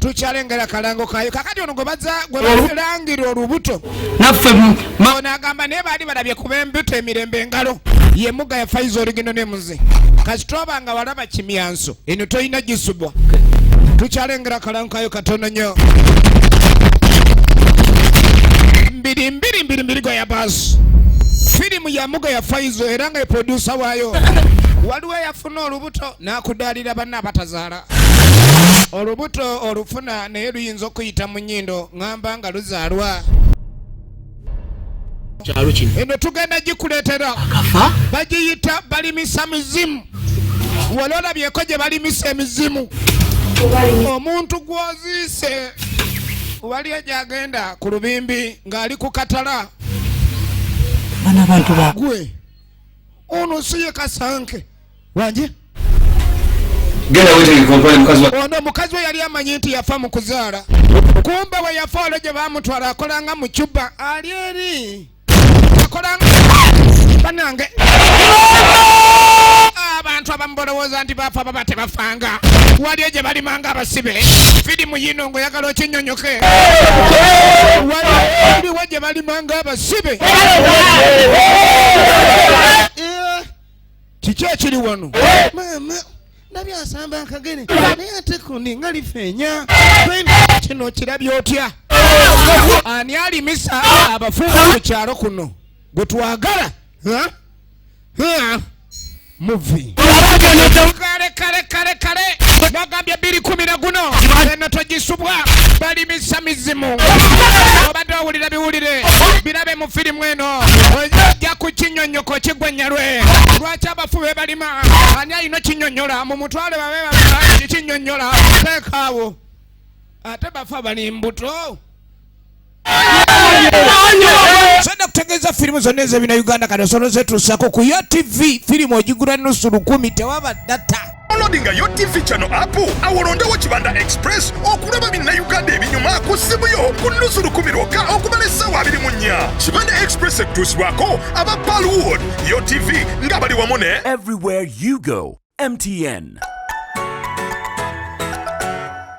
tukyalengera kalango kayo kakati ono gwe baza gwe bazilangira olubuto naffe ono agamba naye baali balabye kuba embuto emirembe engalo ye muga ya faiza oligino ne muze kasita oba nga walaba kimyanso eno tolina gisubwa tukyalengera kalango kayo katono nnyo mbiri mbiri mbiri mbiri gwa ya baasi firimu ya muga ya faizo era nga eprodusa waayo waliwo yafuna olubuto n'akudaalira banna abatazaala olubuto olufuna naye luyinza okuyita mu nyindo ngamba nga luzaalwa eno tugenda gikuleetera bagiyita balimisa mizimu wali olabyeko gye balimisa emizimu omuntu gwoziise waliyo gyagenda ku lubimbi ng'ali ku katala gwe ono si ye kasanke wangi ono mukazi we yali amanyi nti yafa mu kuzaala kumbe we yafa olwo gye bamutwala akolanga mu cuba ali eri akolanga banange abantu abamu bolowooza nti bafa baba tebafanga waliyo gye balimanga abasibe fidimu yino ngaoyagala okinyonyoke waliwo gye balimanga abasibe kiki ekiri wano maama ndabye asamba akagere naye ate kundi nga lifeenya kino kirabye otya ani alimisa abafuuzi ku kyalo kuno gwe twagala muvi kale kale kale kale bagambye biri kumi na guno eno togisubwa balimisa mizimu obadde owulira biwulire birabe firimu eno ojja ku kinyonyoko kigwenyalwe lwaki abafu bebalima ani alina kinyonyola mu mutwale babe babaaki kinyonyola teekaawo ate bafa bali mbuto senda kutegeeza firimu zonna ezebina uganda kati osolozetuusako ku yo tv firimu ogigula nusu lukumi tewaba data downloadinga yo tv chano app awolondewo kibanda express okulaba binnayuganda ebinyuma ku ssimu yo ku nnusu lukumi lwokka okumala essaawa abiri mu nnya kibanda express ekutuusibwako aba palwood yo tv nga bali wamu ne everywhere you go mtn